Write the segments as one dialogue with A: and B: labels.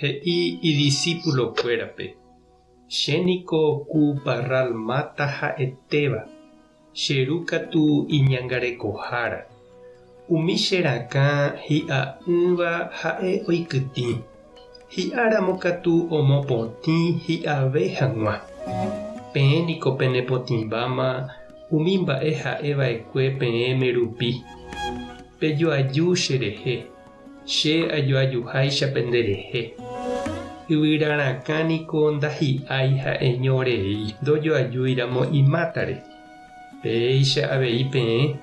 A: He'i idisipulokuérape, Che niko ku parral máta ha'etéva, che ru katu iñangarekohára. Umi che rakã hi'a'ỹva ha'e oikytĩ, hi'áramo katu omopotĩ hi'ave hag̃ua. Peẽ niko penepotĩmbáma umi mba'e ha'e va'ekue peẽme rupi. Pejoaju cherehe. Che ajoajuháicha penderehe. Yvyra rakã niko ndahi'ái ha'eño rei ndojoajúiramo imátare. Péicha avei peẽ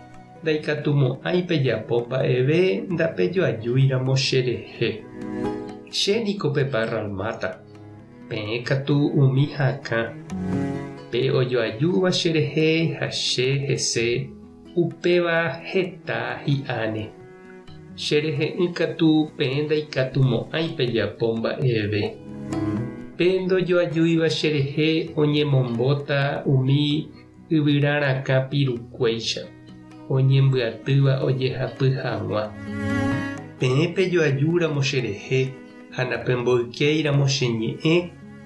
A: ndaikatumo'ãi pejapo mba'eve ndapejoajúiramo cherehe. Che niko peparralmáta. Peẽ katu umi hakã. Pe ojoajúva cherehe ha che hese Upéva heta hi'áne, Che rehe'ỹ katu peẽ ndaikatumo'ãi pejapo mba'eve. Pe ndojoajúiva cherehe oñemombóta umi yvyra rakã pirukuéicha, oñembyatýva ojehapy hag̃ua. Peẽ pejoajúramo cherehe ha napemboykéiramo che ñe'ẽ,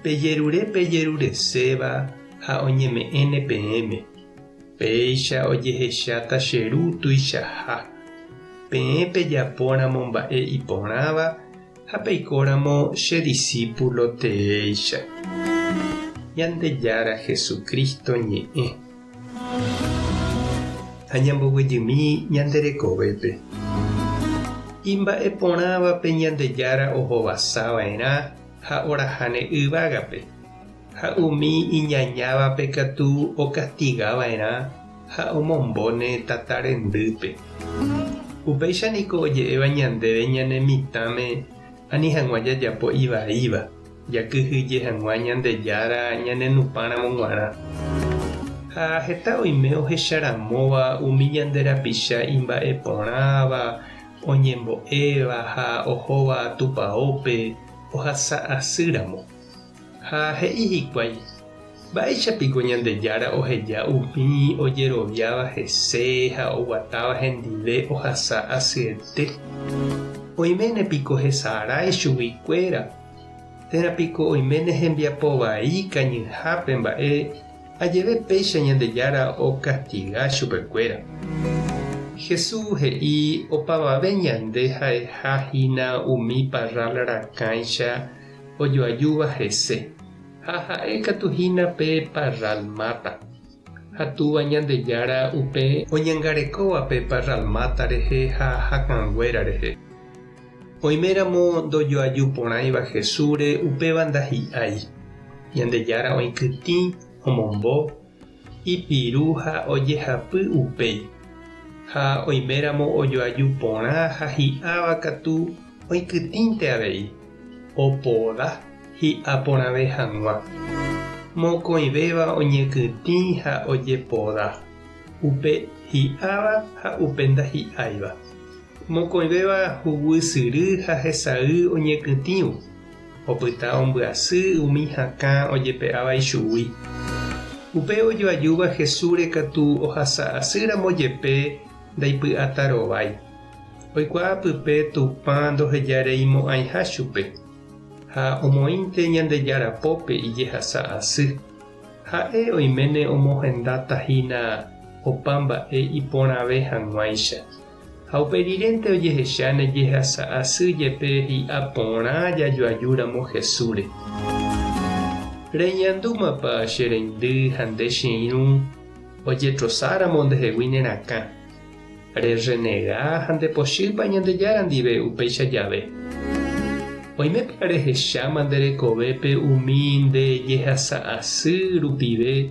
A: pejerure pejerureséva ha oñeme'ẽne peẽme. Péicha ojehecháta che Ru tuichaha, peẽ pejapóramo mba'e iporãva ha peikóramo che disípulo teéicha. Ñandejára Jesucristo ñe'ẽ. Ha ñamboguejymi ñande rekovépe. Imba'eporãvape Ñandejára ohovasava'erã ha orahaney yvágape. Ha umi iñañávape katu okastiga va'erã ha omombo ne tata rendýpe. Upéicha niko oje'éva ñandéve ñane mitãme ani hag̃ua jajapo ivaíva, jakyhyje hag̃ua Ñandejára ñanenupãramo g̃uarã. Ha heta oime ohecharamóva umi ñande rapicha imba'e porãva, oñembo'éva ha ohóva Tupaópe ohasa asýramo, Ha he'i hikuái, Mba'éicha piko Ñandejára oheja umi ojeroviáva hese ha oguatáva hendive ohasa asyete? Oiméne piko hesarái chugui kuéra? Térã piko oiméne hembiapo vai kañyhápe mba'e ajeve péicha Ñandejára okastiga chupe kuéra? Hesu he'i opavave ñande ha'eha hína umi parrál rakãicha ojoajúva hese, ha ha'e katu hína pe Parralmata, ha túva Ñandejára upe oñangarekóva pe Parralmata rehe ha hakãnguéra rehe. Oime ramo ndojoaju porãiva Jesúsre upéva ndahi'ái, Ñandejára oĩkytĩ omombo, ipiru ha ojehapy upéi, ha oiméramo ojoaju porã ha hi'ãva katu oikytĩnte avei, opoda hi'a porãve hag̃ua. Mokõivéva oñekytĩ ha ojepoda, upe hi'ãva ha upe ndahi'áiva. Mokõivéva huguy syry ha hesay oñekytĩvo. opyta ombyasy umi hakã ojepe'áva ichugui. Upe ojoajúva Hesúre katu ohasa asy ramo jepe ndaipy'áta rovái. Oikuaa pype Tupã ndoheja rei mo'ãiha chupe, ha omoĩnte Ñandejára pópe ijehasa asy. Ha'e oiméne omohendatahína opa mba'e iporãve hag̃uáicha. Ha upe rirente ojehecha ne jehasa asy jepe hi'a porã jajoaju ramo Jesúsre. Reñandúmapa che reindy ha nde che irũ ojetrosa ramo nde hegui ne rakã? Re renega ha nde pochýpa Ñandejára ndive upéicha jave? Oimépa re hecháma nde rekovépe umi nde jehasa asy rupive